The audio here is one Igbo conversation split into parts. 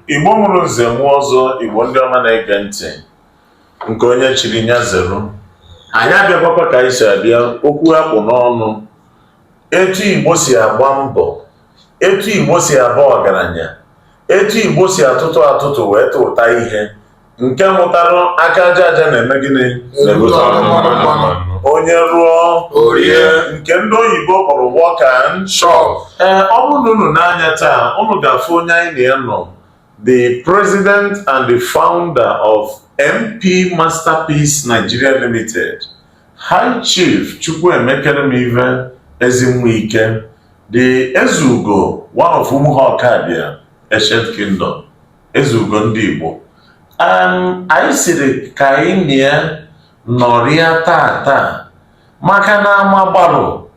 igbo mụrụ nze mụọ ọzọ igbo ndị ọma na-ege ntị nke onye chiri nya zere anyị abịakwakwa ka anyị si abịa okwu a kpụ n'ọnụ etu igbo si agba mbọ etu igbo si aba ọgaranya etu igbo si atụtụ atụtụ wee tụta ihe nke mụtara aka aja aja na-eme gịnị onye rụọ o rie nke ndị oyibo kpọrọ work and chop ee ọ bụrụ na unu nee anya taa unu ga-afụ onye anyị na ya nọ the president and the founder of mp masterpiece nigeria limited high chief chukwuemekeremive ezinwa ike the ezeugo one of umuhu ọkabịa ancient kingdom eze ugo ndị Igbo anyị sịrị ka anyị na ya nọrịa tata maka na ama gbalụ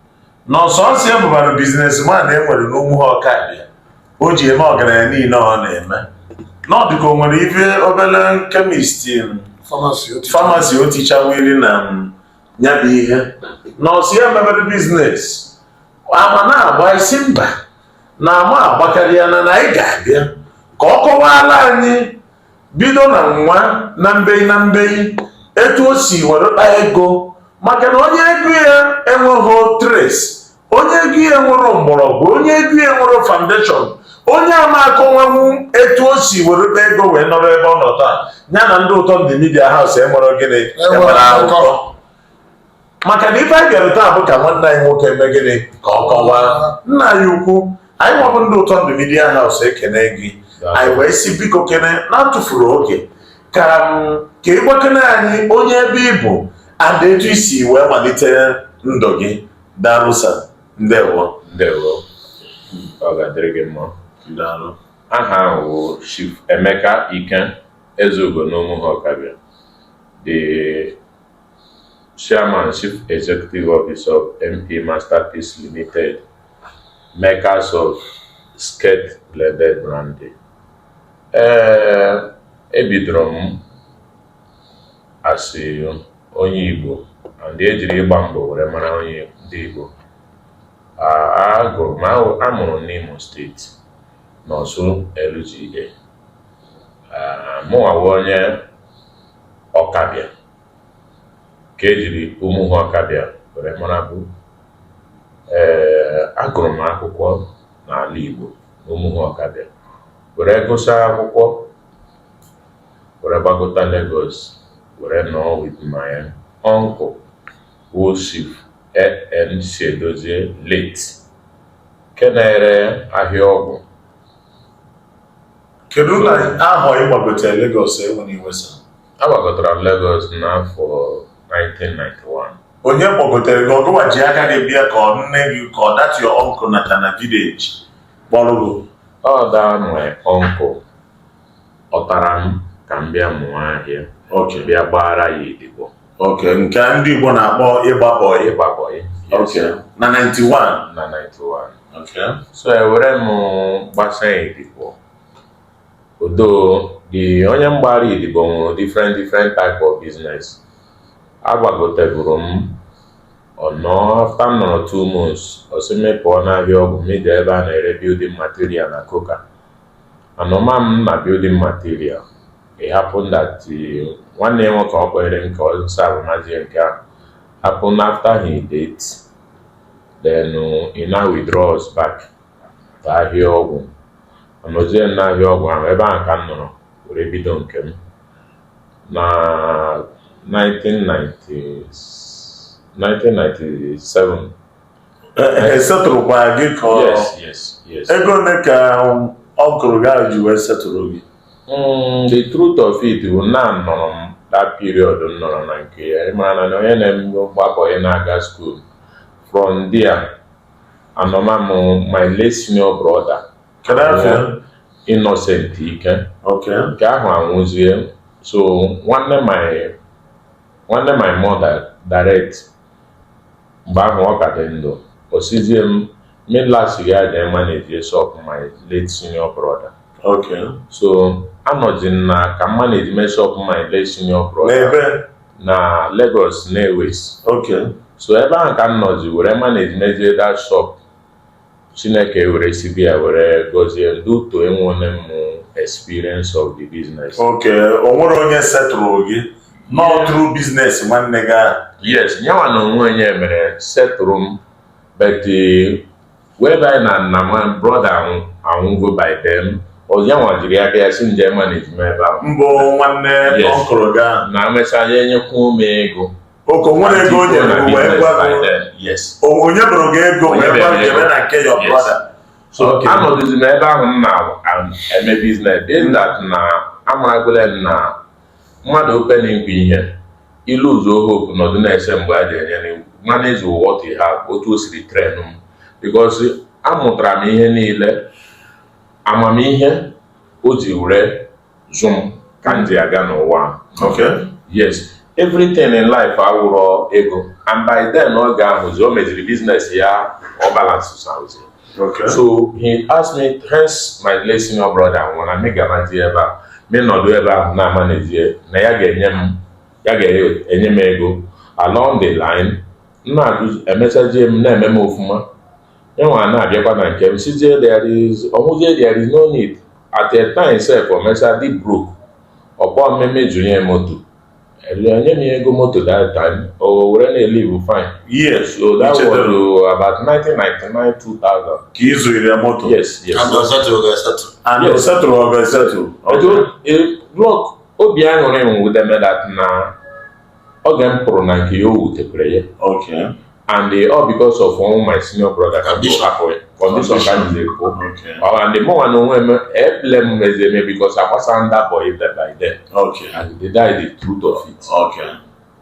na ọ sọsọ ya bụbara businessman e nwere n'Umuhu Ọkabịa o ji eme ọgaranya niile ọ na-eme na ọ dị ka o nwere ife obele chemist pharmacy o tichawiri na ya bụ ihe na ọ sọ ya mebere business ama na-agba isi mba na ama agbakarịa na na anyị ga-abịa ka ọ kọwaala anyị bido na nwa na mbeyi na mbeyi etu o si were kpa ego maka na onye ego ya enweghị trace onye ego ya enwerọ mgbọrọgwụ onye ego ya enwerọ foundation onye ama akọwanwu etu o si were kpa ego wee nọrọ ebe ọ nọ taa ya na ndị ụtọ ndụ media house enwerọ gịnị enwerọ akụkọ maka na ife anyị bịara taa bụ ka nwanne anyị nwoke eme gịnị ka ọ kọwaa nna anyị ukwu anyị nwa bụ ndị ụtọ ndụ media house ekene gị anyị wee sị biko kene na-atụfurọ oge ka ka ị gwakene anyị onye ebe ị bụ and etu i si wee malite ndụ gị daalụ sir ndewo ndewo ọ ga-adịrị gị mma daalụ aha m bụ Chief Emeka Ike Ezeugo n'Umuhu Ọkabịa the Chairman Chief Executive Officer of MP Masterpiece Limited, makers of Skirt Blended Brandy. Ee, ebidoro m as onye Igbo and e jiri ịgba mbọ were mara onye ndị Igbo agụrụ m a mụrụ m n'Imo State n'Orsu LGA mụnwawa onye Ọkabịa ka e jiri Umuhu Ọkabịa were mara bụ ee agụrụ m akwụkwọ n'ala Igbo na Umuhu Ọkabịa were gụsa akwụkwọ were gbagota Lagos were nọọ with my uncle wụ Chief AN Chiedozie late nke na-ere ahịa ọgwụ Kedu na ahọ ị gbagotere Lagos enwere iwesa? Agbagotara m Lagos n'afọ 1991. Onye kpọgotere gị ọ gịwa ji aka gị bịa ka ọ nne gị ka ọ that your uncle nọ na village kpọrọ gị? Ọ that my uncle kpọtara m ka m bịa mụọ ahịa bịa gbaara ya odibo. Okay, nke ndị Igbo na-akpọ ịgba bọyị. Ịgba bọyị. Okay. Na 91. Na 91. Okay. So ewere m gbasa odibo. Although the onye m gbara odibo nwere different different type of business. Agbagotegoro m ọnọ after m nọrọ two months ọ sị m pụọ n'ahịa ọgwụ m jee ebe a na-ere building material na Coker. Anọma m na building material. It happened that uh, nwanne ya nwoke ọ kpọrọ m ka ọ serve mazi ya nke ahụ happened after he died then uh, he now withdraw us back to ahịa ọgwụ anọzie m n'ahịa ọgwụ ahụ ebe ahụ ka m nọrọ were bido nke m na 1990 1997 e setụrụkwa gị ka ego ole ka uncle gị ji wee setụrụ gị hmm, the truth of it bụ na nọrọ m that period m nọrọ na nke ya ị mara na onye na-agba bọyị na-aga school from there anọma m my late senior brother Innocent Ike nke ahụ anwụzie so nwanne my nwanne my mother direct Mgbe ahụ ọ ka dị ndụ. Ọ sịzie m, Milla si ya jee manage shop my late senior brother. Okay. So anọzi m na ka m manage mee shop my late senior brother N'ebe? na Lagos Nnewi. Okay. So ebe ahụ ka m nọzi were manage mezie that shop Chineke were si ebe a were gọzie m due to enwele m experience of the business. okay o nwere onye setụrụ gị na ọ through business nwanne gị ahụ Yes, nyawa na onwe onye mere setụrụ m but eh, whereby na my brother anwụ anwụgo by then ọ nyanwa jiri aka ya sị m jee manage m ebe ahụ mbụ nwanne Yes. uncle gị ahụ na emechaa ya enyekwuo m ego Okay o nwere ego o nyebu wee gwa o nyeburu gị ego wee gwa gị jebe na nke your brother. So anọdụzi m ebe ahụ m na-eme business being that na amaragole m na mmadụ hoping nkwa ihe ilu ụzọ hope nọdụ na-ese mgbe a ga-enye gị manage what you have otu o siri train m because amụtara m ihe niile amamihe o ji were zụ m ka m ji aga n'ụwa okay yes everything in life awụrọ ego and by then oge ahụzi o meziri business ya ọ balance saụzi okay so he asked me hence my late senior brother nwụrụ anyị garazi ebe a me nọdụ ebe ahụ na-amanajị na ya ga-enye m ya ga-enye m ego along the line na-agụzi emechazie m na-eme m ofuma Yanwa na-abịakwa na nke m sizie there is ọnwụzie there is no need at a time sef o mecha dị broke ọ kpọọ m me zụnye moto enye m ya ego moto that time o were na-elive fine yes so that was Ichetara. uh, about 1999 2000 ka ị zụnyere ya moto yes yes And Ọsatụ ọ ga-asatụ. and Yes. o setụrụ ọ ga-esetụ Etu- e- blọk obi aṅụrị m wudeme that na oge m pụrụ na nke ya o wutekwere ya Okay. and eh, all because of one my senior brother ka bishop akọrọ condition ka m ji ekwu and the more na onwe m eble m mezi eme because I was under boy by then okay. and that's the truth of it okay.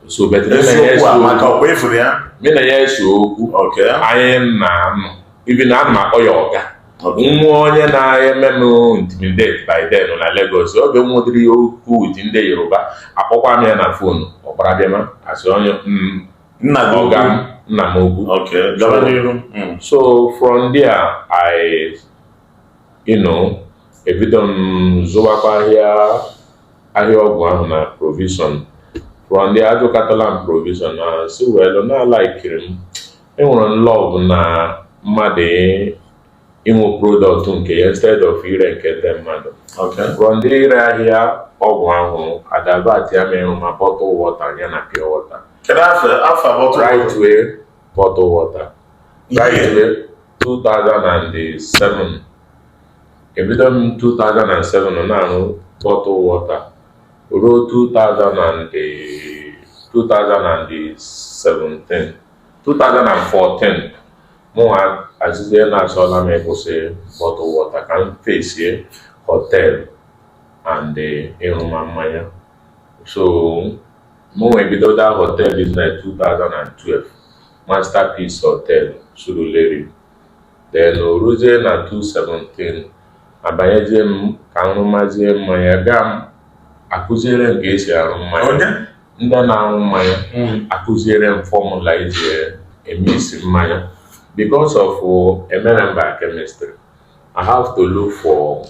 so but me na ya ese okwu me na ya ese okwu anyị na anụ even a na m akpọ ya ọga nwee onye na-eme m intimidate by then na Lagos oge m nwedịrị okwu with ndị Yoruba akpọkwa m ya na phone ọ gbara bịa ma asị onye mm, nna gị ọga m nna m ukwu okay gaba n'iru Mm. so from there i you know ebido m zụwakwa ahịa ahịa ọgwụ ahụ na provision from there azụkatala m provision na sị well na alaikiri m enwere m love na mmadụ inwe product nke ya instead of ire nke ndị mmadụ from there ire ahịa ọgwụ ahụ adivertia m ịrụma bottle water ya na pure water rightway bottle water rightway 2007 ebido m 2007 na-arụ bottle water ruo 2017 2014 mụnwa asịzie na achọla m ịkwụsị bottle water ka m fesie hotel and ịrụma mmanya so mụnwa ebido that hotel business 2012 masterpiece hotel surulere then o ruzie na 2017 abanyezie m ka m rụmazie mmanya gaa ma a kuziere m ka e si arụ mmanya ndị na-aṅụ mmanya akụziere m fọmụla eji eme isi mmanya because of emerọ m biochemistry I have to look for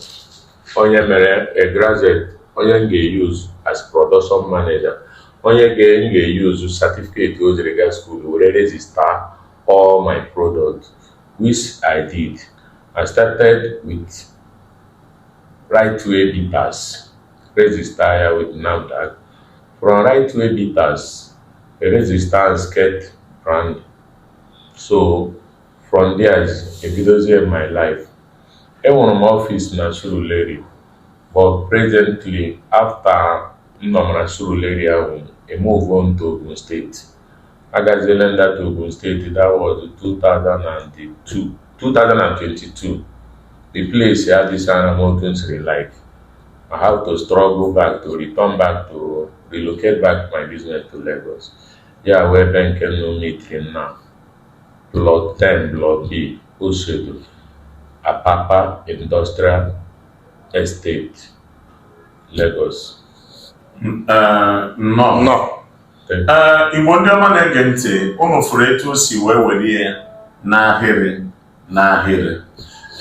onye mere a graduate onye m ga-use as production manager onye ga m ga-use certificate o jiri gaa school were register all my products which I did I started with Rightway Bitters Register ya with NAFDAC. From Rightway Bitters, register and skate brand. So from there is ebidozie m my life. Enwere m ọfịs na Surulere but presently after m nọ na Surulere ahụ, I move on to Ogun State. Agaziele ndata Ogun State, that was 2002, 2022. The place adịsarọ m otu m siri like. I have to struggle back to return back to relocate back my business to Lagos. Ya wee ebe nke unu mitiri m na plot 10 block B Oshodi Apapa Industrial Estate, Lagos. N- eh, nnọọ Nọ. ee igbo ndị ọma na-ege ntị ụnụ fụrụ etu o si wee were ya n'ahịrị n'ahịrị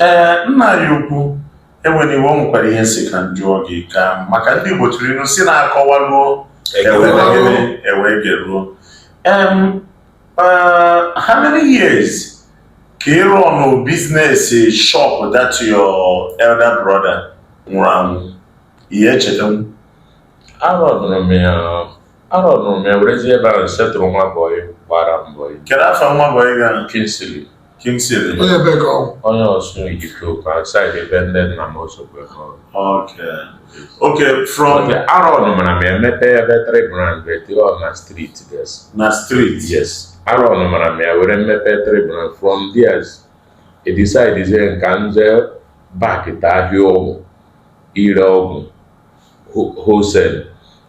ee nna anyị ukwu enwere ihe nwekwara ihe m sị ka m jụọ gị ka maka ndị igbo tụrụ ilu sị na akọwaruo e wee geruo um, uh, how many years ka ị rọnụ business shop that your elder brother nwụrụ anwụ ihe echeta m arọnụrụ m ya arọnụrụ m ya werezi ebe ahụ setụrụ nwa bọyị gbara m bọyị kedu afa nwa bọyị gị a Kingsley Kingsley onye ebe ka ọ bụ onye Ọsụ Ihiteukwa saịdị ebe ndị nna m ose oke n'Ọlụ oke oke from dia arọnụmara m emepe ebe tri brand betiri ọ na street yes na street yes arọnụmara m ya were mepee tri brand from dias edisaidizie m ka m je bak to ahịa ọgwụ ire ọgwụ wholesale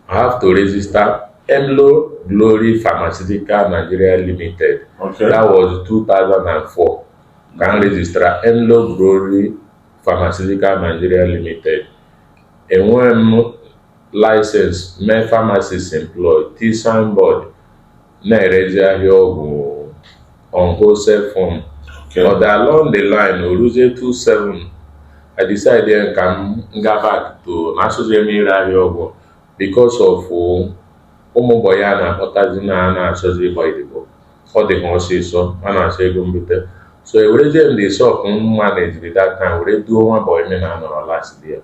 I have to register Emlo Glory Pharmaceutical Nigeria Limited okay. that was 2004 ka m rejistra Emlo Glory Pharmaceutical Nigeria Limited enweghị m license mee pharmacist employed t signboard na-erezi ahịa ọgwụ on wholesale form Okay. ọ dị along the line o ruzie 27 I decide ka m ga back to na asọzi m ire ahịa ọgwụ because of ụmụ bọyị a na-akpọtazi na a na-achọzi ịgba odibo ọ dị ha ọsịsọ a na-achọ ego mbute so ewerezie m the shop m manejiri that time were duo nwa boy m na-anọrọ last there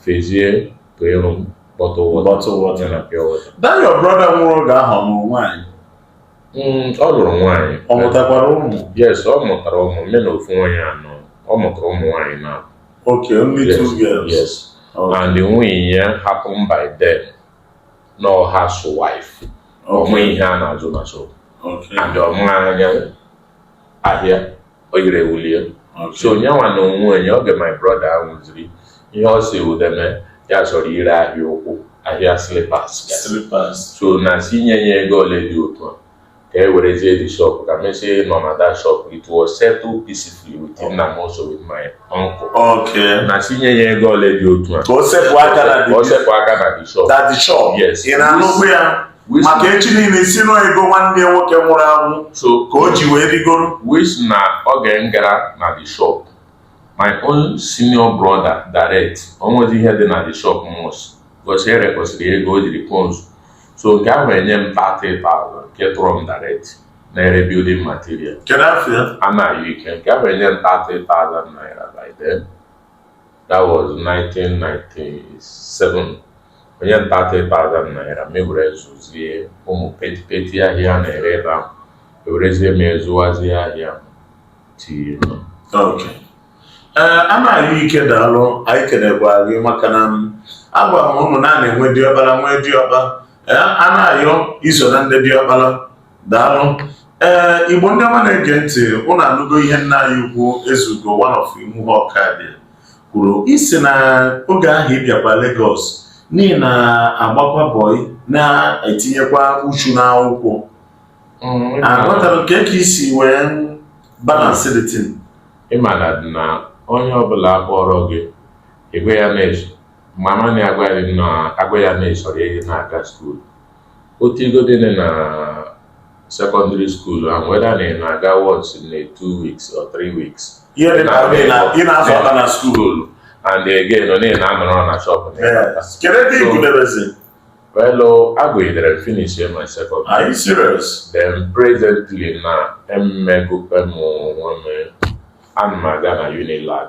fezie ka ịrụ m bottle water Bottle water. ya na pure water That your brother nwụrụ oge ahụ ọ lụrụ nwaanyị. Mm, ọ lụrụ nwaanyị Ọ mụtakwara ụmụ. yes ọ mụtara ụmụ mana ofu nwaanyị anọ ọ mụtara ụmụ nwaanyị na Okay, only two yes, girls. yes. Okay. and nwunye ya happen by then na ọ housewife ọ maghị Okay. ihe a na-azụ na shop Okay. and ọ maghị anya ahịa o yiri ewulie so onye nwa na onwe onye oge my brother nwụziri ihe ọ sị udeme ya zọrọ ire ahịa ụkwụ ahịa slippers so na sị nye ya ego ole dị otu a ka e werezie the shop ka mesie nọ na that shop it was settled peacefully with nna m also with my uncle okay na sị nye ya ego ole dị otu a ka o sepụ aka na the shop yes maka echi niile sị na ọ ego nwanne ya nwoke nwụrụ anwụ so ka o ji wee rigoro which na oge m gara na the shop my own senior brother direct o nwezi ihe dị na the shop much because ere kwesịrị ego o jiri sponsor so nke ahụ enye m 30,000 nke tọrọ m direct na-ere building material kedu afọ ya Anayọ Ike nke ahụ enye m 30,000 naira by then that was 1997 o nye m 30,000 naira mụ ewere zụzie ụmụ petipeti ahịa a na-ere ebe ahụ ewerezie m ya zụwazie ahịa tinye Ok. Ee, Anayọ Ike daalụ anyị kenekwa gị maka nna m agwa m ụmụnna na-enwe diọkpara nwee diọkpa ee Anayọ i so na ndị diọkpara daalụ ee eh, Igbo ndị ọma na-ege ntị ụnụ anụgo ihe nna anyị ukwu Ezeugo one of Umuhu Okabia kwuru ị sị na oge ahụ ị bịakwa Lagos na ị na-agbakwa bọị na-etinyekwa uchu n'akwụkwọ mm, aghọtara m kee ka i si wee balance the thing ịmana dị na onye ọbụla kpọrọ gị egwe ya na-eso mama na-agwa ya na-esoro ihe na-aga skuulu otu igo dị na secondary school and whether na ị na-aga once na two weeks or three weeks ihe dị ka ị na- ị na-azọ ọkpa na skuul skuulu and again ọ na-ị na-anọrọ na shop na ị na-aga. Yes. kedu ebe ị gụdebezi well oh, agụidere m finish my secondary are you serious then presently now I'm equipping onwe m ana m aga na Unilag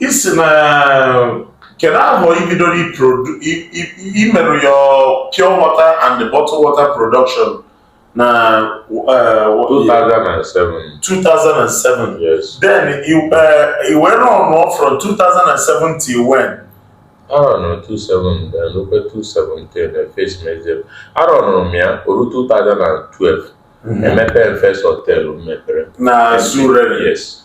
ị sị na kedu ahọ i bidoro imerụ your pure water and bottle water production na 2007 2007 yes then i wee run from 2007 till when arọnụrụ 2007 then rukwe 2017 na face mezie arọnụrụ m ya o ruo 2012 emepe first hotel m mepere na Surulere yes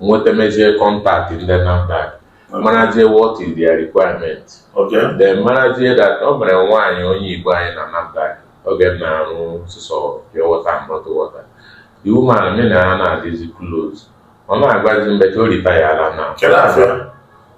nweta mezie contact ndị NAFDAC marazie what is their requirement Okay. then marazie that o nwere nwaanyị onye Igbo anyị na NAFDAC oge m na-arụ sụsọ pure water and bottled water the woman mụ na ya na-adịzi close ọ na-agwazi mgbe ka o ritayala now Kedu afọ ya?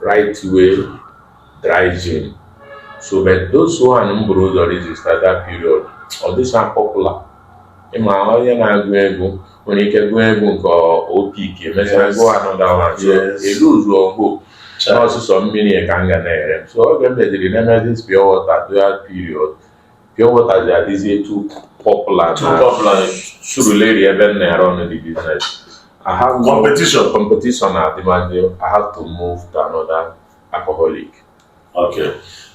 right way dry gin so but those one m buru ụzọ register that period ọ dịsa popular ị ma onye na-agụ egwu nwere ike gụọ egwu nke ọ pick emesịa gụọ another one so elu ụzọ ọgbo na sụsọ mmiri ka m ga na-ere so oge m bidoro na-emezi pure water that period pure water ji adịzie too popular Too popular. na Surulere ebe m na-erun the biznes I have no Competition. competition na adịmadị I have to move to another alcoholic Okay.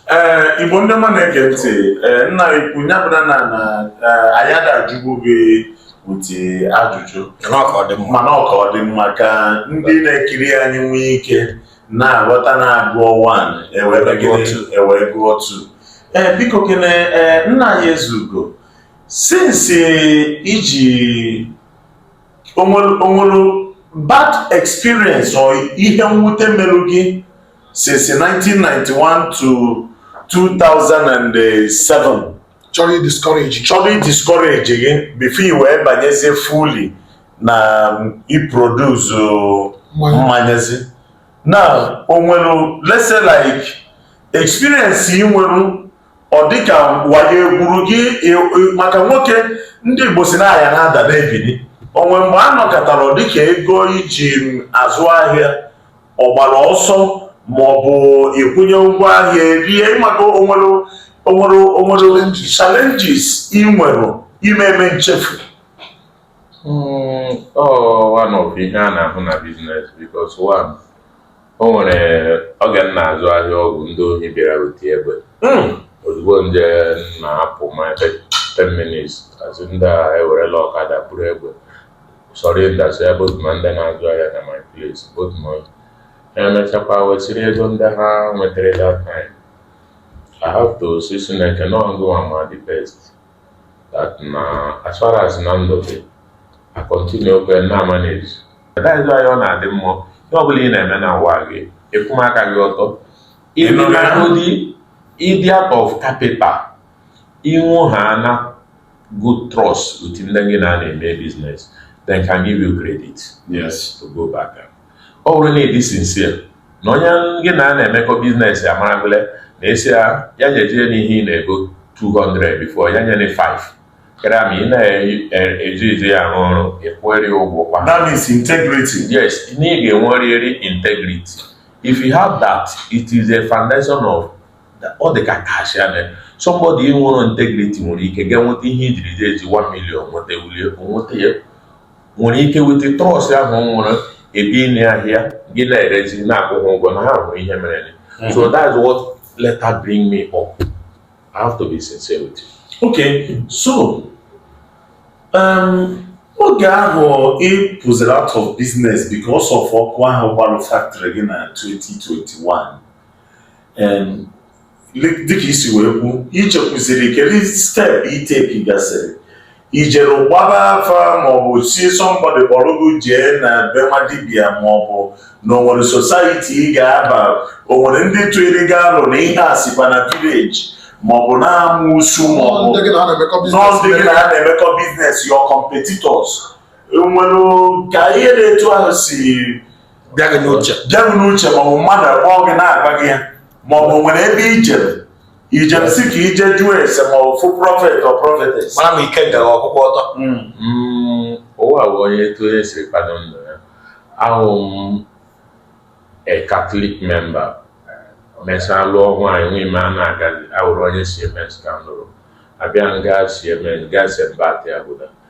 Ee, Igbo ndị ọma na-ege ntị, ee, nna ukwu ya bụ na na na ee, anyị ada ajụbu gị ụdị ajụjụ Nnọọ ka ọ dị mma. mana ọ ka ọ dị mma ka ndị na-ekiri anyị nwee ike na-aghọta na-agụọ 1 ewee mee gịnị? ewee gụọ 2 ee biko kene ee nna anyị Ezeugo since iji o nwere o nwere bad experience or ihe mwute merụ gị since 1991 to 2007 chọrọ idiscourage chọrọ idiscourage gị before i wee banyezie fully na iproduce mmanyazi now o nwere let's say like experience ị nwere ọ dịka wayo e gwuru gị maka nwoke ndị Igbo sị na a ya na-ada na-ebili o nwere mgbe a nọkatara ọ dịka ego i ji azụ ahịa ọ gbara ọsọ ma ọ bụ ị kwụnye ụgwọ ahịa e rie maka o nwere o nwere o nwere challenges ị nwere ime eme nchefu hmm, one of ihe a na-ahụ na biznes because one o nwere oge m na-azụ ahịa ọgwụ ndị ohi bịara weta egbe hmm. ozugbo m je na-apụ maybe 10 minutes a sị ndị a ewerela ọkada buru egbe surround-sịa both ma ndị na-azụ ahịa na my place both ma ha emechakwa wesịrị ego ndị ha nwetara that time I have to sị Chineke na ọ ngịwa ma the best that na as far as na ndụ dị I continue kwa na-amanage that is why ọ na-adị mma ihe ọ bụla ị na-eme na ụwa gị akwụba aka gị ọtọ ị nọgodi idea of capital I nwehaana good trust with ndị gị na ha na-eme business, they can give you credit yes to go back. Ọ bụrụ na ịdị sincere na onye gị na ya na-emekọ business ya maragole na a sị ya ya nyejee n'ihe ị na-ego 200 before ya nyere 5 kere ma ị na-eji eji ya arụ ọrụ ịkwụrị ụgwọ kwa That means integrity. yes na ị ga-enwerịrị integrity if you have that it is a foundation of ọ dị ka cash ya mere somebody nwere integrity nwere ike ga nweta ihe ijiri je eji 1 million nweta wulie nweta ya nwere ike weta trust ahụ nwere ebe ịnye ahịa gị na-erezi na-akwụghị ụgwọ na ha hụrụ ihe mere hmm. so that's what later bring me up I have to be sincere with you. okay so um, oge ahụ ị pụziri out of business because of ọkụ ahụ gbalụ factory gị na 2021 dịka isi wee kwu ichekwuziri kedu step i take gasịrị i jere gbaa afa maọbụ sị somebody kpọrọ gị jee na be nwa dibịa maọbụ na onwere society ị ga-aba onwere ndị tụụrụ gị alo na ihe a sikwa na village maọbụ na amusu maọbụ na ọ ndị gị na ha na-emekọ business your competitors nwere ka ihe dị etu ahụ si bịa gị n'uche ma ọ bụ mmadụ akpọọ gị na-agwa gị ya ma ọ bụ nwere ebe i jere ijem sị ka i je jụọ ese ma ọ fụ prophet or prophetess mara m ike gara ọkụkọ ọtọ hmm. Hmm, ụwa bụ onye etu onye siri kpado ndụ ya awụ m a Catholic member mesịa lụọ nwaanyị nwa ime a na-agazi awụrụ onye CMS ka m lụrụ abịa nga si eme nga se mba atị abụda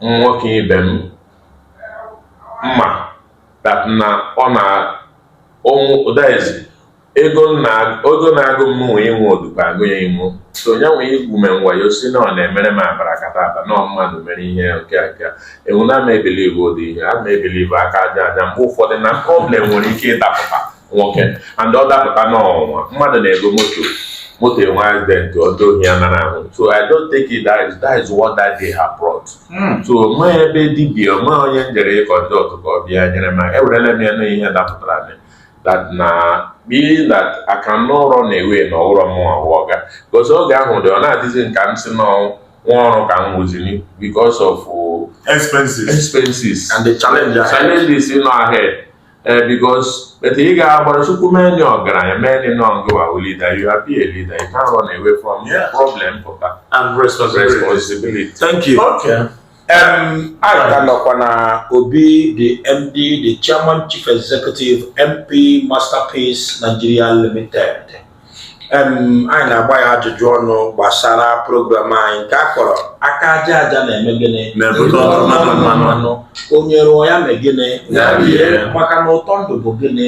nwoke ibe m mma that na ọ na that is ego na-agụ m nwe inwe odukọ agụ ya inwe so onye nwe igwu me ngwayo si na ọ na-emere m abracadabra na mmadụ mere ihe nke nke enwu na ama ebelieve ụdị ihe a ma ebelieve aka aja aja mgbe ụfọdụ na problem nwere ike ịdapụta nwoke and ọ dapụta n'ụwa mmadụ na-ego moto moto enwe accident ọdụ ohi ya nara ahụ so i don't take it that is, that is what that day have brought Mm. so ma ebe dibịa ma onye njere contact ka ọ bịa nyere m aka ewerela m ya na ihe dapụtara m that na being that I cannot run away na awụrụ m ọga because oge ahụ dị ọ na-adịzi m ka m sị na nwa ọrụ ka m wụziri because of uh, expenses expenses and the challenge ahead. challenges nọ ahead ee eh, because etu ị ga-agbara Chukwu mee ndị ọgaranya mee ndị nọ gị wụ a leader you are be a leader you can't run away from yeah. problem pụta and responsibility thank you okay. Um, A ka nọkwa na obi the MD the Chairman Chief Executive MP Masterpiece Nigeria Limited anyị na-agba ya ajụjụ ọnụ gbasara program anyị nke a kpọrọ aka aja aja na-eme gịnị mmanụ onye rụọ ya mee gịnị maka na ụtọ ndụ bụ gịnị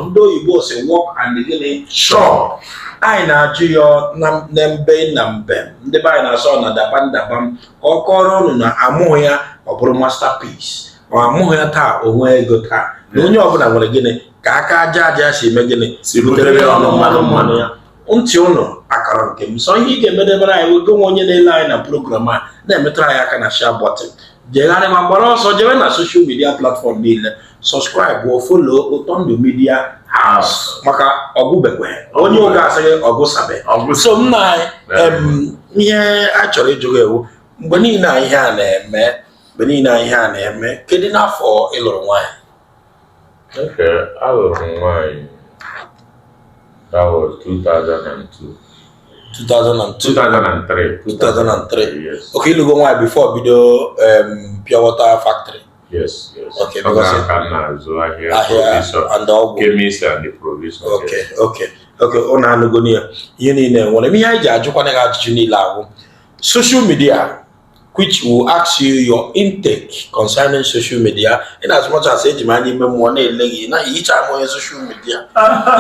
ndị oyibo sị work and gịnị chop anyị na-ajụ ya na mbe na mbe ndị be anyị na-asọ na dabam dabam ka ọ kọọrọ ụnụ na amụghị ya ọ bụrụ masterpiece amụghị ya taa o nwee ego taa na onye ọbụla nwere gịnị ka aka aja aja si eme gịnị si butere ya ọnụ mmanụ mmanụ ya ntị ụnụ akara nke m so ihe ị ga-emedebere anyị wego nwa onye na-ele anyị na program a na-emetụrụ anyị aka na share button jegharị ma gbara ọsọ jewe na social media platform niile subscribe follow Ụtọ Ndụ Media House maka ọgụbekwe onye Uga asịghị ọgụsabe so nna ihe a chọrọ ịjụ gị wụ mgbe niile a ihe a na-eme mgbe niile a ihe a na-eme kedu n'afọ ị lụrụ nwaanyị Okay, alụrụ m nwaanyị that was 2002 2002 2003 2003 yes okay ị lụgo nwaanyị before bido um, pure water factory yes yes Okay, Ọ because- gara ka m na-azụ ahịa ahịa provision and ọgwụ chemist and the provision okay okay okay ụnụ anụgonụ ya ihe niile nwere ihe anyị ji ajụkwana gị ajụjụ niile ahụ social media which we'll ask you your intake concerning social media in as much as eji m anya ime mmụọ na-ele gị na i yichaghị m onye social media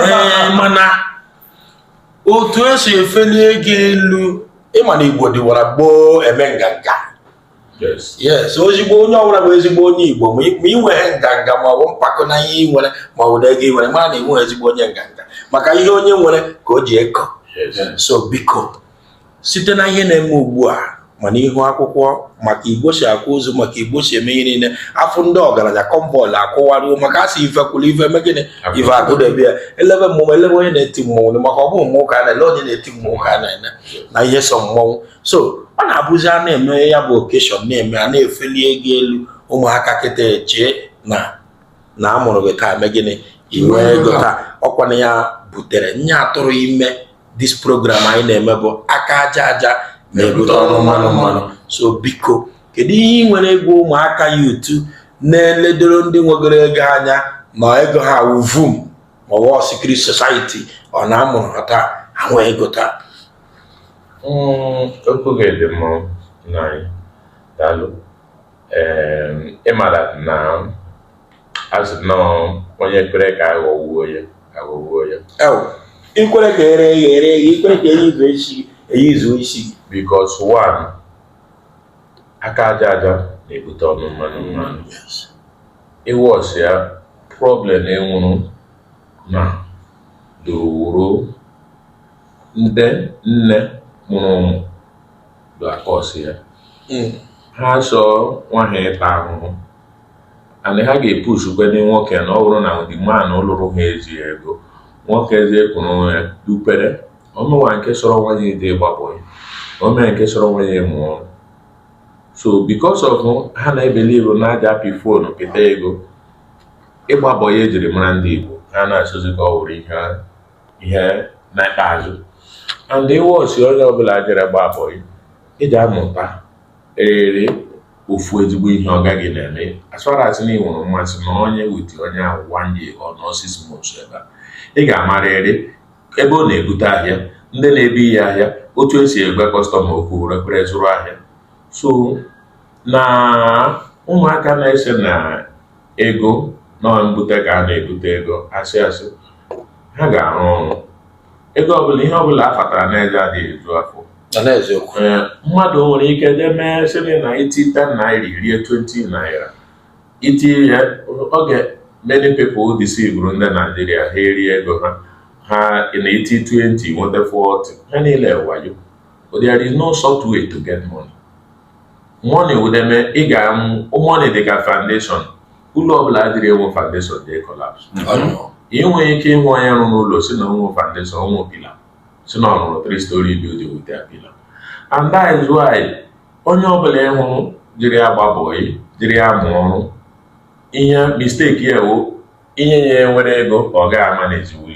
ee mana otu esi efeli ego elu ị ma na igbo dịwara gboo eme nganga yes ezigbo onye ọbụla bụ ezigbo onye igbo ma ị nweghị nganga ma ọ bụ mpako na ihe ị nwere ma ọ bụ na ego ị nwere mara na ị bụghị ezigbo onye nganga maka ihe onye nwere ka o ji eko so biko site na ihe na-eme ugbu a ma na ihu akwụkwọ maka igbo si akwa ozu maka igbo si eme ihe niile afụ ndị ọgaranya kọmbọọlụ akụwaruo maka a sị ife kwụrụ ife eme gịnị ife akwụdebe ya elebe mmọnwụ elebe onye na-eti mmọnwụ maka ọ bụ mmụọ ka a na-ele onye na-eti mmụọ ka a na-ele na ihe so mmọnwụ so ọ na-abụzi a na-eme ya bụ occasion na-eme a na-efeli ego elu ụmụaka kịta chee na na a mụrụ gị taa eme gịnị ị nwee ego taa ọ kwa na ya butere anyị atụrụ ime this program anyị na-eme bụ aka aja aja na-ebute ọnụ mmanụ mmanụ so biko kedu ihe ị nwere ịgwa ụmụaka youth na-eledoro ndị nwegoro ego anya ma ego ha wụ vum ma ọ wụ secret society ọ na a mụrụ ha taa ha nwee ego taa hmm, okwu gị dị mma nna anyị daalụ Ee, ị mara na as you know onye kwere ka aghọwuo ya aghọwuo ya ikwere ka ere ya ere ya ikwere ka eji i zuo oshi eji i zuo oshi because one aka aja aja na-ebute ọnụ mmanụ mmanụ ị watch ya problem enwuru na dowuru ndị nne mụrụ ụmụ da-acause ya hmm. ha sọ nwa ha ịta ahụhụ and ha ga-epushukwe ndị nwoke na ọ bụrụ na the man lụrụ ha eji ego nwoke ezie kwuru onwe ya dupere o nwe nke sọrọ nwa ya je ịgba bọyị o nwe nke sọrọ nwa ya mụọ ọrụ so because of ha na-ebelieve na a ja-apị fonu pịta ego ịgba bọyị ejiri mara ndị Igbo ha na-asọzi ka ọ wụrụ ihe ihe na ikpeazụ and ị watchie onye ọbụla jere gba bọyị ị ga-amụtarịrị ofu ezigbo ihe ọga gị na-eme as far as na ị nwere mmasị nọnye with onye ahụ one year or nọọ six months ebe a ị ga-amarịrị ebe ọ na-ebute ahịa ndị na-ebu ihe ahịa otu esi agwa customer okwu ya ekwere zụrụ ahịa so na ụmụaka na-ese na ego na mbute ka a na-ebute ego asị asị ha ga-arụ ọrụ ego ọbụla ihe ọbụla a fatara n'eze adịghị eju afọ na n'eziokwu Ee, mmadụ nwere ike DM ị sịrị na i ti 10 naira i rie 20 naira iti ya oge many people deceivuru ndị Naijiria ha erie ego ha ha na iti 20 nweta 40 ha niile wayo but there is no short way to get money money ọ dị eme ị ga-amụ money dị ka foundation ụlọ ọbụla adịghị enwe foundation da-ecollapse ị nwere ike ịhụ onye rụrụ ụlọ sị na o nwe foundation o nwe pillar sị na ọ rụrụ three story building without pillar and that is why onye ọbụla ị hụrụ jiri agba bọyị jiri amụ ọrụ ihe mistake ya wo inye ya nwere ego ọ ga-amanagewuli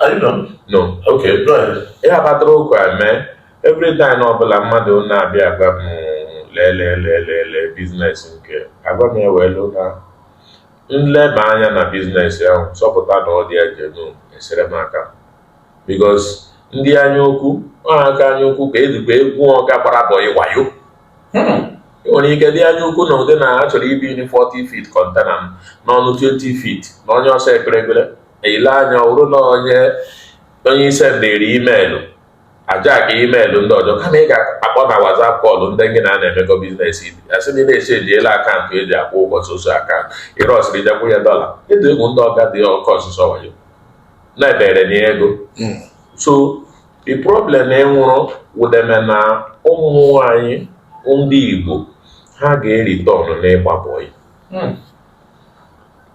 I don't know. No. Okay, go ahead. Ihe abatara okwu eme every time ọbụla mmadụ na-abịa agwa m lelelelele business nke agwa m ewelu na m leba anya na business ahụ sọpụta na ọ dị genuine esere m aka because ndị anya ukwu ọhaka anya ukwu ka ezigbo egwu ọga gbara bọyị wayo ị nwere ike dị anya ukwu na ụdị na a chọrọ ibunye ị 40 feet container n'ọnụ 20 feet na onye ọsọ ekpere ekpere ile anya ọrụ na onye onye i sendiri imeelụ aja ka imeelụ ndị ọjọọ kama ị ga-akpọ na WhatsApp kọlụ ndị gị na ha na-emekọ biznes ị bịa sị na anyị echenjiela akaụntụ eji akwụ ụgwọ soso akaụntụ ịrọsịrị ja-akwụ ya dọla ịdụ egwu ndị ọga dị ọkọ ọsụsọ wayo na-ebere na ego hmm. so the problem enwụrụ wụdeme na ụmụ anyị ndị Igbo ha ga-eritọn n'ịgba bọyị hmm.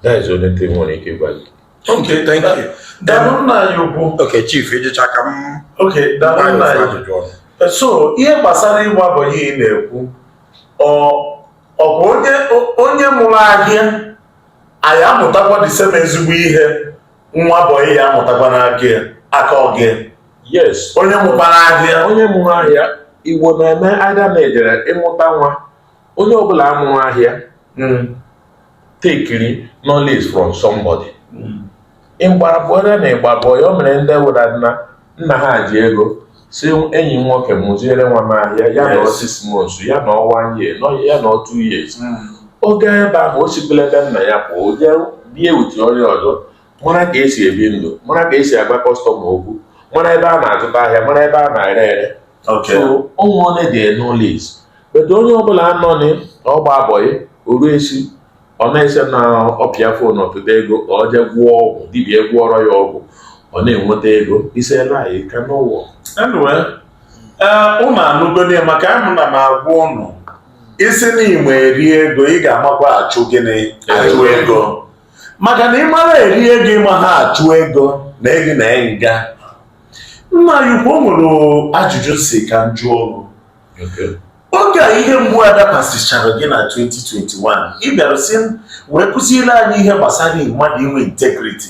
That is the only thing m nwere ike gwa gị. Okay, thank you. Daalụ nna anyị ukwu. Okay, chief, ịjụcha ka m. Okay, daalụ nna anyị. So, ihe gbasara ịgba bọyị ị na-ekwu. Ọ bụ onye onye mụrụ ahịa ya-amụtakwa the same ezigbo ihe nwa bọyị ya-amụtakwa n'aka ya aka ọga. Yes. Onye mụkwara ahịa. Onye mụrụ ahịa Igbo na-eme aida na-ejere ịmụta nwa. onye ọbụla mụrụ ahịa hmm. tekiri knowledge from somebody hmm. ịgbara bụ onye na ịgba bọyị a o nwere ndị wụ na nna ha ji ego sị enyi m nwoke mụziere nwa m ahịa ya nọọ six months ya nọọ one year ya nọọ two years hmm. oge ebe ahụ o sikwela ebe nna ya pụọ o jee bie with onye ọzọ mara ka esi ebi ndụ mara ka esi agwa kọstọma okwu mara ebe a na-azụta ahịa mara ebe a na-ere ere so o nwedị knowledge but onye ọbụla anọ na ọgba bọyị oru esi ọ na-eche na ọ pịa fon ọ pịta ego ka ọ jee gwọọ ọgwụ dibịa gwọọrọ ya ọgwụ ọ na-enweta ego isela anyị ka n'ụwa ụnụ anụgodi maka ahụ m na-agwa ụnụ ị sị na ị ma eri ego ị ga-amakwa achụ gịnị achụ ego maka na ị mara eri ego ị maha achụ ego na ego na nga nna anyị ukwu o nwere ajụjụ m si ka m jụọ o ru oge ihe mgbu a dakwasịchara gị na 2021 ị bịara si wee kụziere anyị ihe gbasara mmadụ inwe integriti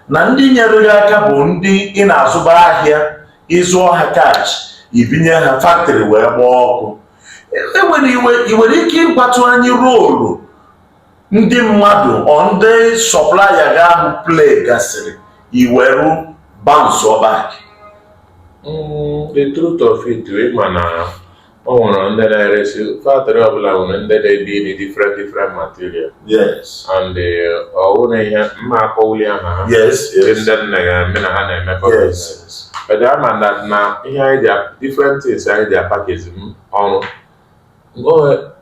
na ndị nyere gị aka bụ ndị ị na-azụba ahịa ị zụọ ha cash ibinye ha faktrị wee gbaa ọkụ ị nwere ike ịgwatụ anyị roolu ndị mmadụ or ndị sọplaya gị ahụ play gasịrị i weru bounce-ọ back Mm, the truth of it ị ma na o nwere ndị na-eresi factory ọbụla nwere ndị na-edi edi different different material yes and ọ wụrụ ihe m ma akpọwuli aha ha yes ndị yes ndị mụ na ha na-emekọ business. yes But ị ma na na ihe anyị ji different things anyị ji apackage ọrụ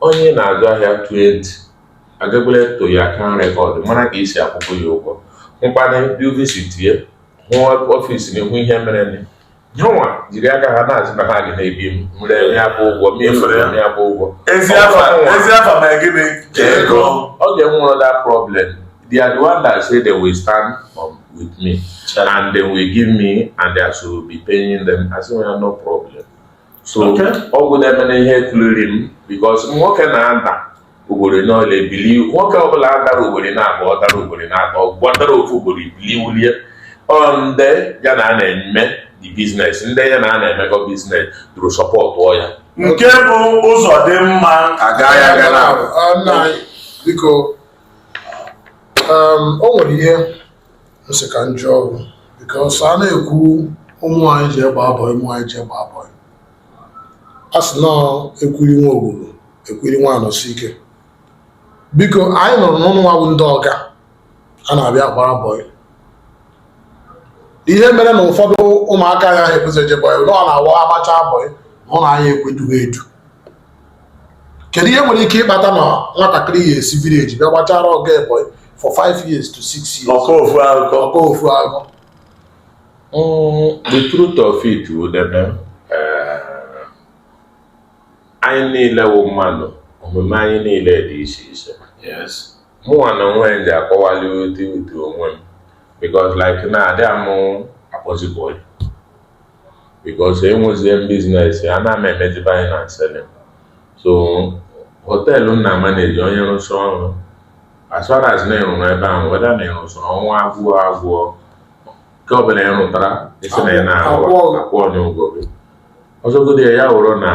onye na-azụ ahịa tụọ ntị agakwala eto ya aka rekọd mara ka esi akwụkwọ ya ụgwọ mkpana ndị visitie ya ọfịs na ihu ihe mere nwa jiri aka ha na-azụ na ha gị na-ebi m mre ya bụ ụgwọ m efere ya bụ ụgwọ ezi afa ma gịnị ka ego ọ ga-enwe that problem they are the one that say they will stand um, with me and they will give me and I should be paying them I say well no problem so ọ wụ na-eme na ihe kuliri m because nwoke na-ada ugboro n'ọla ebili nwoke ọbụla adara ugboro naabụọ ọ dara ugboro naatọ ọ wụ ọ dara ofu ugboro bilie wulie ọ ndị ya na a na-eme the business ndị ya na a na-emekọ business dụrụ sọpọtụọ ya nke bụ ụzọ dị mma agaghị aga na biko um, o nwere ihe m sị ka m jụọ gị because a na-ekwu ụmụ anyị jee gbaa bọyị ụmụ anyị jee gbaa bọyị a sị na ekwiri nwa ogburu ekwiri nwa anọsi ike biko anyị nụrụ na unu nwa bụ ndị ọga a na-abịa agbara bọyị ihe mere na ụfọdụ ụmụaka anaghị ekwezi eje bọyị na ọ na-awụ a gbacha bọyị na unu anaghị ekwe edu ha edu kedu ihe nwere ike ịkpata na nwatakịrị ya esi village bịa gbachara ọga ya bọyị for 5 years to 6 years ọ kọọ ofu akụkọ ọ kọọ ofu akụkọ mm, the truth of it wụdịkwe eh, anyị niile wụ mmadụ omume anyị niile dị iche iche yes mụnwa na onwe m ji akọwali ụdị ụdị onwe m because like na adịghị mụ akpọzi bọyị because enwezie m business a na m emezi buying and selling so hotel m na-amanage onye rụsị ọrụ as far as na ị rụrụ ebe ahụ whether na ị rụsị ọnwa agwụọ agwụọ nke ọbụla ị rụtara ị sị na ị na-arụ Akwụọ gị. akwụọ gị ụgwọ gị ọ sọgodi ya ya wụrụ na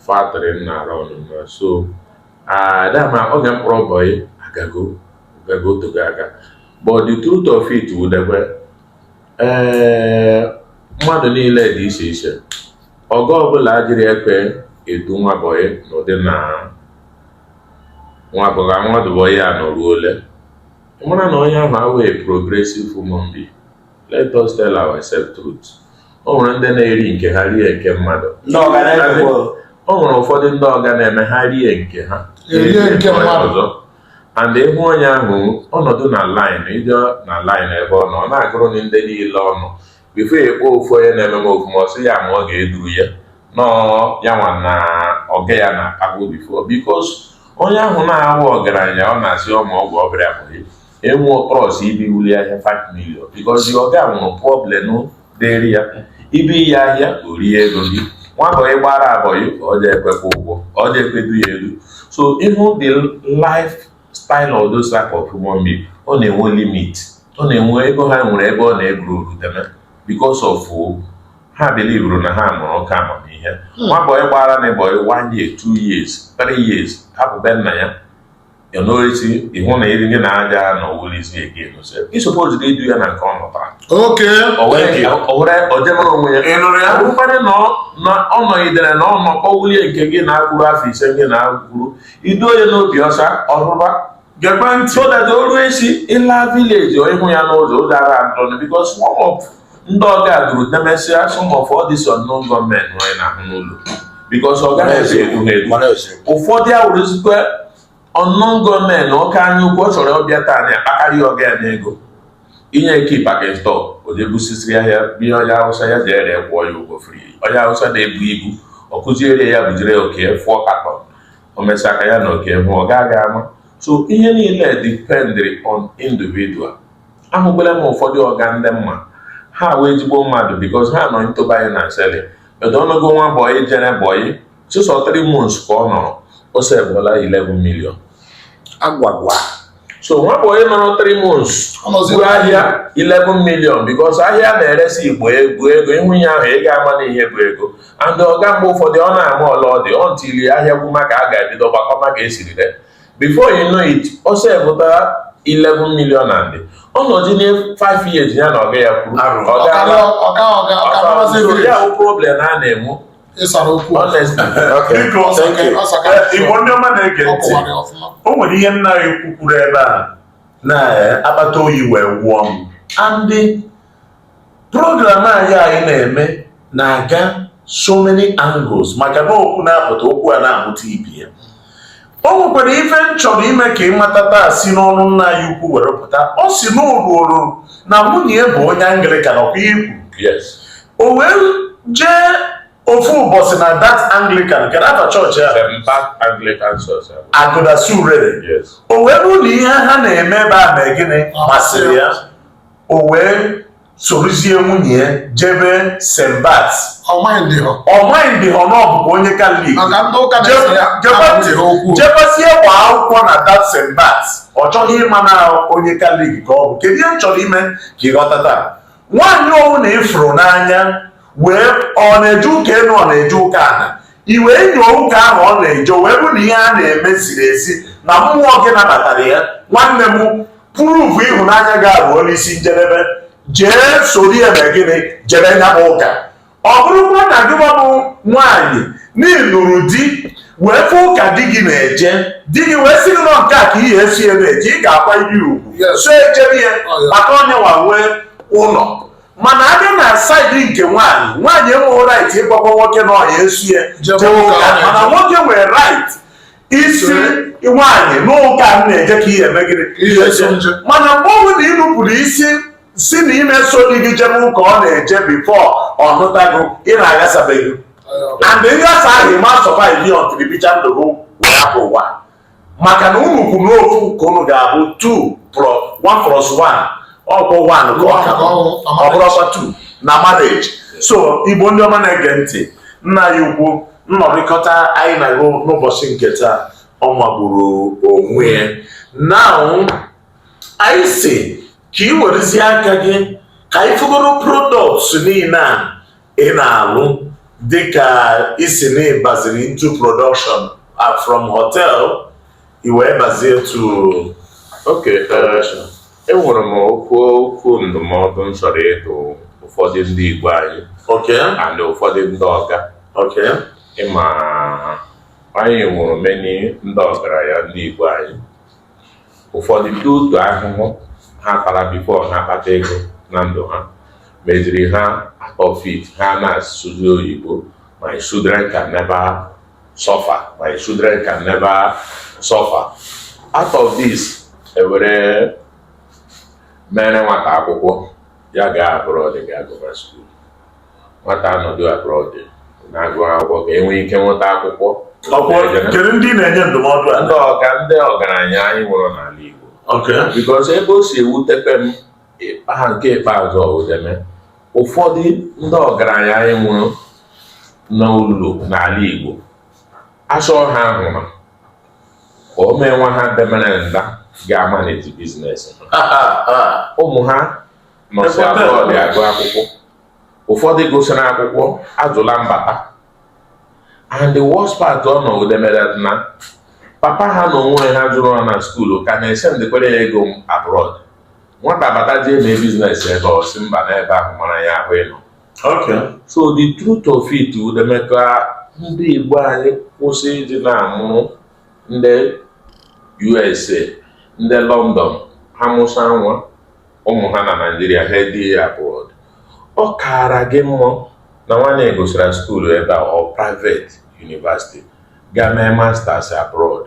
factory m na-arụ ọnụ na so adama oge m kpọrọ bọyị agago agago tego aga but the truth of it wụdịkwe ee mmadụ niile dị iche iche ọga ọbụla adịghị ekwe edu nwa bọyị n'ụdị na nwa bọga nwa dụbọyị a nọruo ole ị mara na onye ahụ awee progressive human being let us tell ourselves truth o nwere ndị na-eri nke ha rie nke mmadụ Ndị ọga na-eri o nwere ụfọdụ ndị ọga na-eme ha rie nke ha erie nke mmadụ. ọzọ and ị hụ onye ahụ ọ nọdụ na line ị jee na line ebe ọ nọ ọ na-agụrụ gị ndị niile ọnụ before ekpo ofu onye na-eme m ofuma ọ sị ya ma ọ ga-eduru ya nọọ ya nwa na ọga ya na akpagbu before because onye ahụ na-awụ ọgaranya ọ na-asị ọma ọgwụ ọbịa bụghị enwe ọkpọrọsị ibi wuli ahịa 5 million because ọga wụrụ problem dịrị ya ibie ya ahịa o rie ego gị nwa bọyị gbara bọyị ka ọ je ekwekwa ụgwọ ọ je ekwedu ya elu so ịhụ the life style of those type of human being ọ na-enwe limit ọ na-enwe ego ha nwere ebe ọ na-eburu oruteme because of ha belivuru na ha mụrụ oke amamihe nwa bọyị gbara na ịbọyị one year two years three years hapụ be nna ya ya n'orisi ịhụ na iri ndị na-aja na owere isi ege nụsị ị suppose gị idu ya na nke ọ nọtara oke owere ojemara onwe ya ịnụrụ ya mkparị na ọ nọgidere na ọ nọkọ wulie nke gị na-akwụrụ afọ ise gị na-akwụrụ idu onye n'obi ọsa ọrụba gebe ntị so that o ruo isi ịla village ịhụ ya n'ụzọ ụzọ ara adọnụ because some of ndị ọga duru e mesịa some of all this unknown gunmen anyị na-ahụ n'ụlọ because ọ gaghị esi edu ha edu Mana ose. ụfọdụ awụrụzikwa unknown gunmen n'oke anya ukwu ọ chọrọ ọ bịa taa na akpakarị ya ọga ya n'ego inye key packing store o je busisiri ahịa bie onye awụsa ya jere ya kwụọ ya ụgwọ fri onye awụsa na-ebu ibu ọ kụziere ya bujere ya oke four carton o mesịa aka ya na oke hụ ọ gaghị ama so ihe niile dependri on individual ahụbela m ụfọdụ ọga ndị mma ha wụ ezigbo mmadụ because ha nọ ntụba anyị na seli edo ọnụgo nwa bọyị jere bọyị sọsọ 3 months ka ọ nọrọ ọ sevụla 11 million agwagwa so nwa bọyị nọrọ 3 months buru ahịa 11 million because ahịa na-eresi igbo bụ ego ịhụ ihe ahụ ị ga-ama na ihe bụ ego and ọga mgbe ụfọdụ ọ na-ama ole ọ dị until ahịa gwụ maka a ga-ebido gbakọma ka e siri before you know it ọ sevụtara 11 million and ọ nọzi na 5 years ya na ọga ya kwuru ya bụ problem a na-enwe igbo ndị ọma na-ege ntị o nwere ihe nna anyị kwukwuru ebe a na akpata oyi wee wụọ m and program anyị anyị na-eme na-aga so many angles maka na okwu na-apụta okwu a na-amụta ibe ya o nwekwara ife m chọrọ ime ka ị mata taa si n'ọnụ nna anyị ukwu were pụta ọ sị n'ụlọ na nwunye bụ onye anglikan ọkwa ikwu o wee jee ofu ụbọchị na that anglikan nke na-aba chọọchị agụdasi urere o wee bụrụ na ihe ha na-eme ebe a mee gịnị masịrị ya o wee sorozie nwunye ya jebe St. Bart's ọ maindịhọ na ọ bụbu onye katọlik jebezie gbaa akwụkwọ na that St. Bart's ọ chọghị ịma na onye katọlik ka ọ bụ kedu ihe m chọrọ ime ka ị ghọta taa nwaanyị ọwụna ị fụrụ n'anya wee ọ na-eje ụka enu ọ na-eje ụka ana i wee nyoo ụka ahụ ọ na-eje wee fụ na ihe a na-eme ziri ezi na mmụọ gị nabatara ya nwanne m prove ịhụnanya gị ahụ n'isi njedebe jee soro ya mee gịnị jebe nya bụ ụka ọ bụrụkwa na gịnwa bụ nwaanyị na ị lụrụ di wee fụ ụka di gị na-eje di gị wee sị gị na ọ nke a ka ị ya-eso ya na-eje ị ga-akwanyere ugwu so ejebe ya maka ọ nya nwa nwe ụlọ mana a bịa na side nke nwaanyị nwaanyị enweghị right ịgwakwa nwoke na ọ ya-eso ya mana nwoke nwere right ịsị nwaanyị na ụka m na-eje ka ị ya-eme gịnị mana mgbe ọ bụla ị nupụrụ isi sị na ị ma eso di gị jebe ụka ọ na-eje before ọ nụta gị na aghasabego and nghasa ahụ ị ma survive ya until ị bichaa ndụ gị wee hapụ ụwa maka na unu kwuru na ofu ka unu ga-abụ 2 1 plus 1 ọkwa 1 ka ọ ka bụ ọ bụrọkwa 2 na marriage so igbo ndị ọma na-ege ntị nna anyị ukwu nnọrịkọta anyị na gị n'ụbọchị nke taa ọ magburu onwe ya now anyị sị ka ị werezie aka gị ka anyị fụgoro products niile a ị na-alụ dịka ị sị na ị baziri into production uh, from hotel i wee bazie to okay enwere m okwu okwu ndụmọdụ m chọrọ ịdụ ụfọdụ ndị Igbo anyị okay and ụfọdụ ndị ọga okay ị ma anyị nwere many ndị ọgaranya ndị Igbo anyị ụfọdụ due to ahụhụ ha tara before ha kpata ego na ndụ ha meziri ha out of it ha na-asụzi oyibo my children can never suffer my children can never suffer out of this e were meere nwata akwụkwọ ya gaa abroad ga agụva school nwata anọdụ abroad na-agụ akwụkwọ ka e nwee ike nweta akwụkwọ okay kedu ndị na-enye ndụmọdụ a ndị ọga ndị ọgaranya anyị nwere n'ala Igbo okay because ebe o si ewutekpe m ịkpa ha nke ikpeazụ ọwụdeme ụfọdụ ndị ọgaranya anyị nwere n'ụlọ n'ala Igbo achọ ha ahụrụ ka o mee nwa ha demere nda ga-amanage business ha ụmụ ha nọsị abroad agụ akwụkwọ ụfọdụ gụsịrị akwụkwọ ajụla mbata and the worst part ọ nọ udemere na papa ha na onwe ha zụrụ ha na school ka na-esendịkwara ya ego abroad nwata bata jee mee business ebe ọ sị mba na ebe ahụ mara ya ahụ ịnọ so the truth of it udemeka ndị igbo anyị kwụsị ịdị na-amụrụ ndị usa ndị london ha mụsa nwa ụmụ ha na Naịjirịa ha edie ya abroad ọ kaara gị mma na nwanne ya gụsịrị skuulu ebe a ọ private university ga mee masters abroad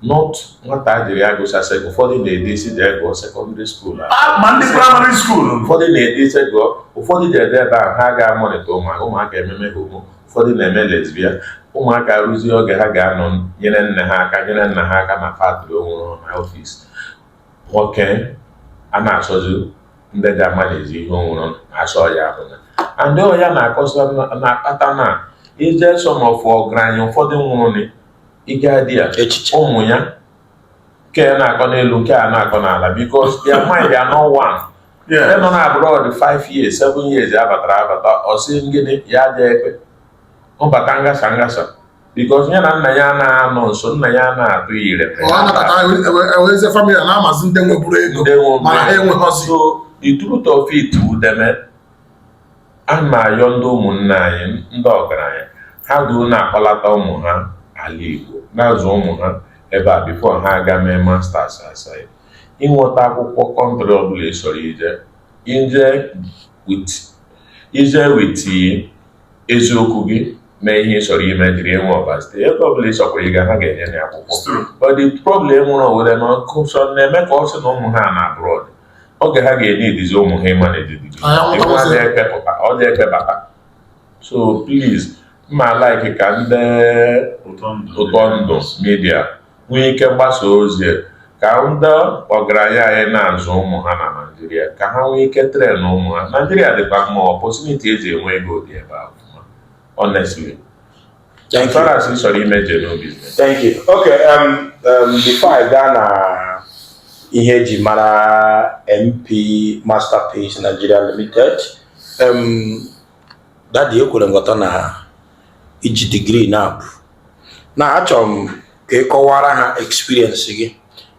not nwata jiri agụsa sek ụfọdụ na-ede isi jee gụọ sekọndịrị skuul ma ndị praịmarị skuul ụfọdụ na-ede isi gụọ ụfọdụ ji ede ebe ahụ ha ga-amonitor ụmụaka ụmụaka ememe homo ụfọdụ na-eme lesbia ụmụaka rụzie oge ha ga-anọ nyere nne ha aka nyere nna ha aka na factory onwere ha ọfisi nwoke a na-achọzi ndị ga-amanage ihe o nwere achọ ya ahụ na and ọ ya na-akọsa na-akpata na ije some of ọgaranya ụfọdụ nwụrụ ịga di ya ụmụ ya nke a na-akọ n'elu nke a na-akọ n'ala because their mind are not one ndị nọ na abroad 5 years 7 years abatara abata ọsị ngịnị ya adị ekpe mbata ngasa ngasa because ya na nna ya anaghị anọ nso nna ya na-atụ ya ire ọ anabata ewezie famili na-amazi ndị nweburu ego mana ha enweghọzi so the truth of it udeme a na-ayọ ndị ụmụnne anyị ndị ọgaranya ha duo na-akpọlata ụmụ ha ala Igbo na-azụ ụmụ ha ebe a bifo ha aga mee masters outside ịnweta akwụkwọ kọntrị ọbụla ị chọrọ ije ije with eziokwu gị mee ihe ị chọrọ ime dịrị enwe ọba site ebe ọbụla ị chọkwara ịga ha ga-enye na akwụkwọ but the problem nwere owere na ọkụsọ na-eme ka ọ sị na ụmụ ha nọ abroad oge ha ga-enye idizi ụmụ ha ịma na edidi ọ dị ekpebata so please m ma like ka ndị ụtọ ndụ media nwee ike gbasa ozi ka ndị ọgaranya anyị na-azụ ụmụ ha na Naịjirịa ka ha nwee ike tren ụmụ ha Naịjirịa dịkwa mma ọpọtuniti eji enwe ego dị ebe ahụ honestly Thank you. As far as ị chọrọ ime genuine business. Thank you. Okay, um, um, before ị gaa na ihe eji mara MP Masterpiece Nigeria Limited, um, Dadi ekwere m ghọta na i ji digrii na-abụ na achọrọ m ka ị kọwara ha experience gị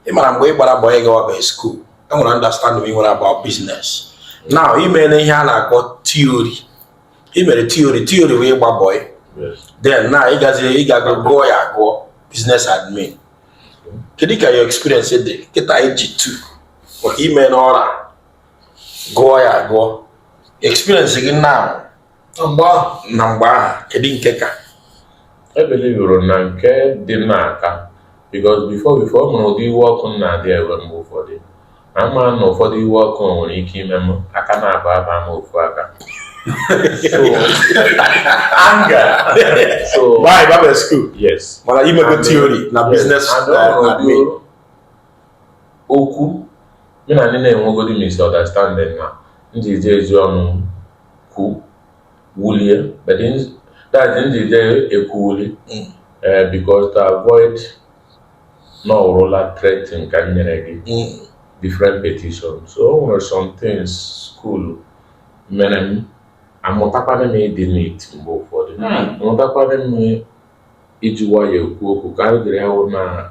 ị mara mgbe ị gbara bọị ị gawabee skuul e nwere understanding ị nwere about business now ị meela ihe a na-akpọ theory ị mere theory theory wee gba bọị then now ị gaziri ị gago gụọ ya agụọ business admin kedu ka your experience dị kịta iji tu maka ime n'ọra gụọ ya agụọ experience gị now mgbe a na mgbe ahụ kedu nke ka ebelivụrụ na nke dị n'aka because before before ọ nwere ụdị iwe ọkụ m na-adị ewe mgbe ụfọdụ ama na ụfọdụ iwe ọkụ nwere ike ime m aka naabọ abaa n'ofu aka so mana i mego theory na business uh, Okwu mụ na ndị na-enwegodị misunderstanding na m ji eje ezi ọnụ m kwu wulie but in- that m ji eje ekwuwuli eh, because to avoid na ọ wụrụla threatening ka m nyere gị different petition so o nwere some things school mere m amụtakwana m ịdị neat mgbe ụfọdụ amụtakwana m iji nwayọọ ekwu okwu ka m gere ya wụ na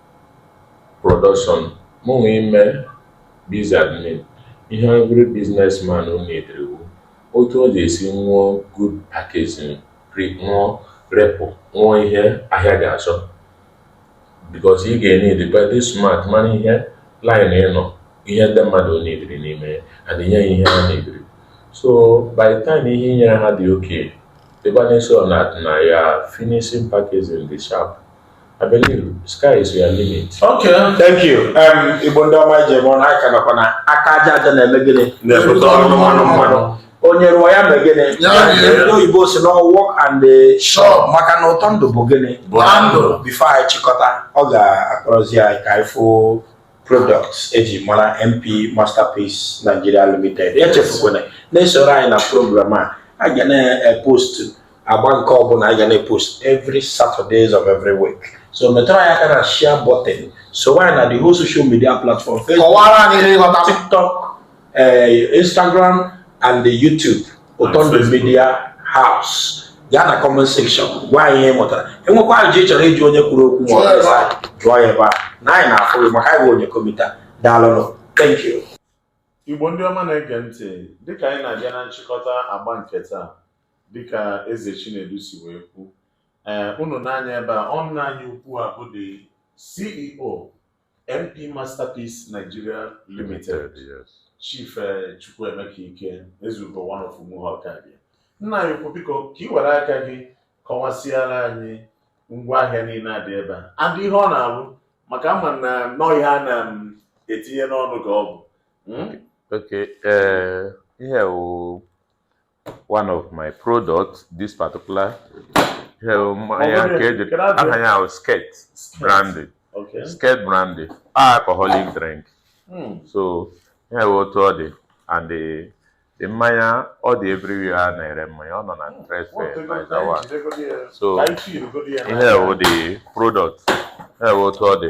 Production Mụnwa ime biz admin, ihe every business man needịrị wu otu ọ ga-esi nwụọ good packaging, pre nwụọ repụ, nwụọ ihe ahịa ga-achọ because ị ga-eneedkwa ịdị smart mara ihe line ị nọ, ihe ndị mmadụ needịrị n'ime ya and nye ha ihe ha needịrị. So by the time ihe i nyere ha dị okay, dịkwa na-eso na na ya finishing packaging dị sharp. I believe sky is your limit. Okay, thank you. Um, Igbo ndị ọma ije bụ na aka nakwa na aka aja aja na-eme gịnị na-ebute ọnụ mmanụ mmanụ. Onye rụọ ya mee gịnị? Ndị oyibo sị na work and chop maka na ụtọ ndụ bụ gịnị? Bụ ndụ. Before anyị chịkọta, ọ ga-akpọrọzi anyị ka anyị fụ products eji mara MP Masterpiece Nigeria Limited. Echefukwana na-esoro anyị na program a, a ga na-epostu agba nke ọbụla anyị ga na-epost every Saturdays of every week so metụrụ anyị aka na share button so anyị na the whole social media platform kọwara anyị ihe ịghọta TikTok eh, Instagram and the YouTube ụtọ ndụ media house gaa na comment section gwa anyị ihe ị mụtara i nwekwa ajụjụ ị chọrọ ịjụ onye kwuru okwu ma ọ jụọ ya ebe a na anyị na-afụ gị maka anyị bụ onye komita daalụnụ thank you igbo ndị ọma na-ege ntị dịka anyị na-abịa na nchịkọta agba nke taa dịka Eze Chinedu si wee kwu ee ụnụ nee anya ebe a nna anyị ukwu a bụ the CEO MP Masterpiece Nigeria Limited Chief eh, Chukwuemeka Ike Ezeugo one of Umuhu Okabia nna anyị ukwu biko ka ị were aka gị kọwasịara anyị ngwa ahịa niile a dị ebe a and ihe ọ na-alụ maka a ma na ọ ihe a na-etinye n'ọnụ ka ọ bụ mm? okay ee ihe a wụ one of my products this particular mmanya um, nke eji aha ya wụ Skirt brandy Skirt brandy alcoholic drink hmm. so ihe a wụ otu ọ dị and the mmanya ọ dị everywhere a na-ere mmanya ọ nọ na hmm. trade fair na Izawa so ihe a wụ the product ihe a wụ otu ọ dị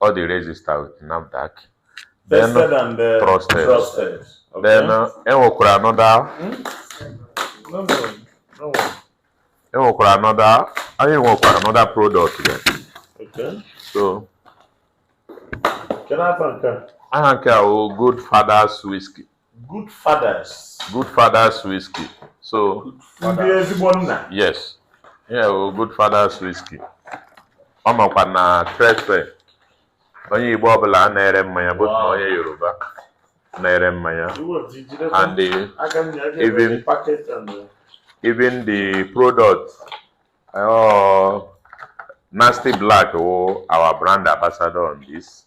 Ọ dị register with NAFDAC. Then, Tested and uh, Trusted. trusted. Okay. then uh, e nwekwara another No, no, no. e nwekwara another anyị nwekwara another product there. Okay. So Can I have a aha nke a wụ Good Fathers Whiskey. Good fathers. Good fathers whiskey. So ndị ezigbo nna. Yes. Yeah, well, good fathers whiskey. Ọ makwa na Trade Fair onye Igbo ọbụla na-ere mmanya both na onye Yoruba na-ere mmanya and the, even uh, even the product uh, Nasty Blaq wụ our brand ambassador on this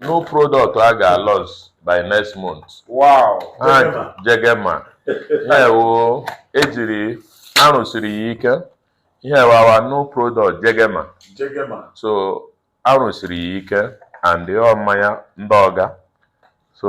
new product a ga-launch by next month Wow. ha jegema ihe wo ejiri arụsiri ya ike ihe wụ our new product jegema Jegema. so arụsiri ya ike and ọ mmanya ndị ọga so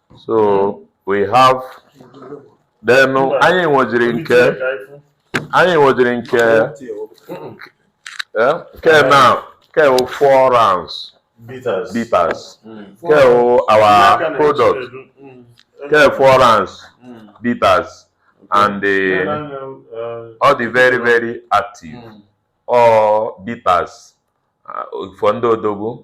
so we have then anyị nwejiri nke anyị nwejiri nke eh, nke na nke four rounds bitters bitters hmm. nke our product hmm. nke four rounds hmm. bitters and eh, uh, ọ dị very very active ọ bitters uh, for ndị odogwu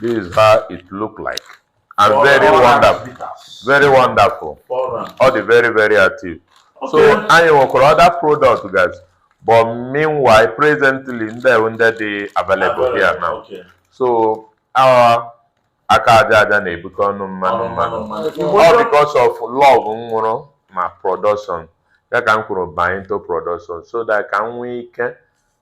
This is how it look like. And Four very wonderful. Bitters. Very wonderful. Ọ dị very, very active. Okay. So anyị nwekwara other product guys. But meanwhile, presently, ndị ndị dị available here now. Okay. So ọ wụ aka aja aja na-ebute ọnụ mmanụ mmanụ all because of love m nwere na production ya ka m kworo banye into production so that ka m nwee ike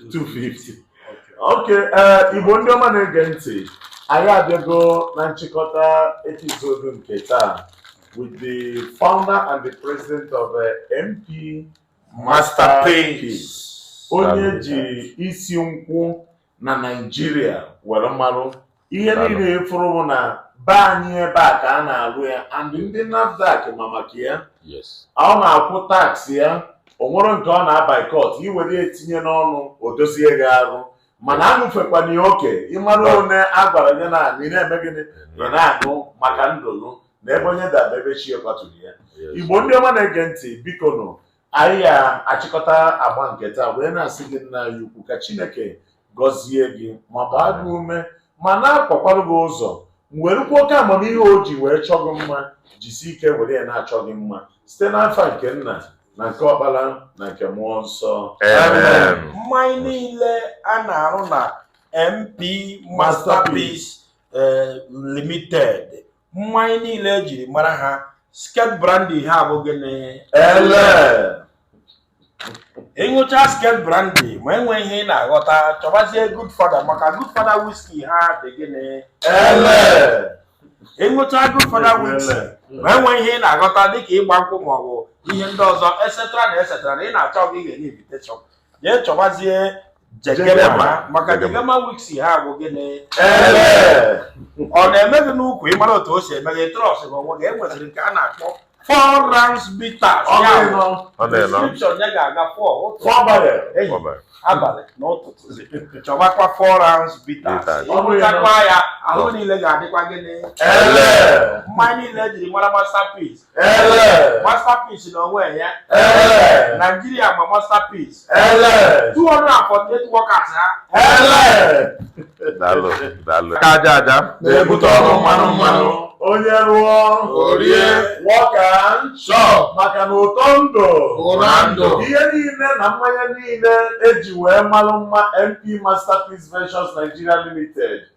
250 okay ee igbo ndị ọma na-ege ntị anyị abịago na nchịkọta episode nke taa with the founder and the president of uh, MP Masterpiece onye e ji isi nkwụ na Naịjirịa were marụ ihe niile ịfụrụ bụ na be anyị ebe a ka a na-alụ ya and ndị NAFDAC ma maka ya ọ na-akwụ tax ya o nwere nke ọ na-boycott iwere ya etinye n'ọnụ o dozie gị arụ mana aṅụfekwana ya oke ịmara na a gwara gị na ị na-eme gịnị ị na-aṅụ maka ndụlụ na ebe onye daba ebe chi ya kwaturu ya igbo ndị ọma na-ege ntị biko nụ anyị ga-achịkọta agba nke taa wee na-asị gị nna anyị ukwu ka chineke gọzie gị ma gbaa gị ume ma na-akwakwara gị ụzọ werukwa oke amamihe o ji wee chọọ gị mma jisi ike were ya na-achọ gị mma site n'afa nke nna na nke ọkpara na nke mmụọ nsọ Amen. mmanya niile a na-arụ na mp masterpiece eh, limited mmanya niile ejiri mara ha skirt brandy ha bụ gịnị ele ịṅụcha skirt brandy ma e nwee ihe ị na-aghọta chọbazie godfather maka godfather whisky ha dị gịnị ele ịṅụcha godfather whisky ma e nwee ihe ị na-aghọta dịka ịgba nkwụ maọbụ ihe ndị ọzọ etcetera na etcetera na ị na-achọ gị ga-enye invitation jee chọbazie Jegema maka Jegema whisky ha bụ gịnị ọ na-eme gị n'ukwu ịmara otu o si eme gị trust gị onwe gị e nweziri nke a na-akpọ four rounds bitters Ọ ya na-enọ. bụ Ọ na-enọ. description ya ga-aga four ụtụtụ Fọbalị. ehihie Ọbara. abalị na ụtụtụ chọbakwa four rounds bitters Bitters. ịṅụchakwa ya ahụ niile ga-adịkwa gịnị Ele. mmanya niile ejiri mara masterpiece masterpiece na onwe ya Nigeria ma masterpiece 248 workers ha daalụ daalụ aka aja aja na-ebute ọnụ mmanụ mmanụ onye rụọ o rie work and chop maka na ụtọ ndụ bụ na ndụ ihe niile na mmanya niile eji wee malụ mma mp masterpiece ventures nigeria limited